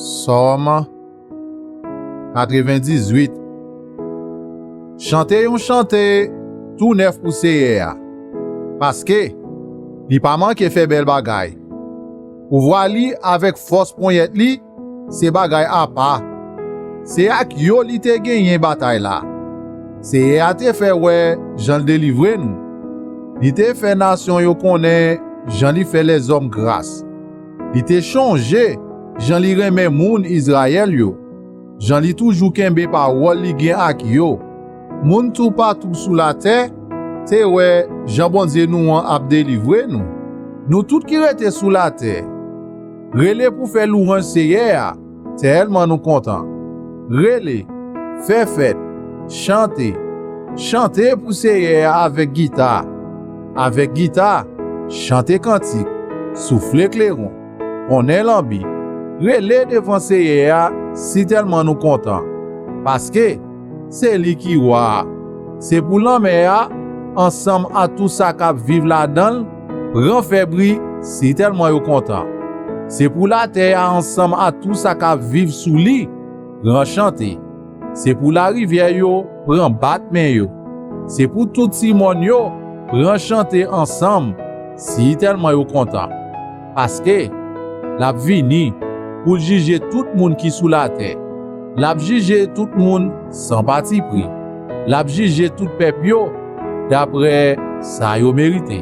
Sòm 98 Chante yon chante tou nèf pou Seyè a, paske, li pa manke fè bèl bagay. Pouvwa li avèk fòs ponyèt li Se bagay apa. Se ak yo li te genyen batay la. Seyè a te fè wè jan l delivre nou. Li te fè nasyon yo konnen jan li fè lèzòm gras. Li te chonje jan li renmen moun Izrayèl yo, jan li toujou kenbe pawòl li gen ak yo. Moun toupatou sou latè te wè jan Bondye nou an ap delivre nou. Nou tout ki rete sou latè. Rele pou fè louranj Seyè a, tèlman nou kontan. Rele, fè fèt, chante, chante pou Seyè a avèk gita, avèk gita, chante kantik, soufle kleron, konnen lanbi, rele devan Seyè a si tèlman nou kontan, paske. Se li ki wa a. Se pou lanmè a, ansanm ak tout sa k ap viv ladan l, pran fè bri sitèlman yo kontan. Se pou latè a ansanm ak tout sa k ap viv sou li, pran chante. Se pou larivyè yo pran bat men yo. Se pou tout ti mòn yo pran chante ansanm sitèlman yo kontan. Paske, l ap vini pou l jije tout moun ki sou latè, l ap jije tout moun san patipri, l ap jije tout pèp yo daprè sa yo merite.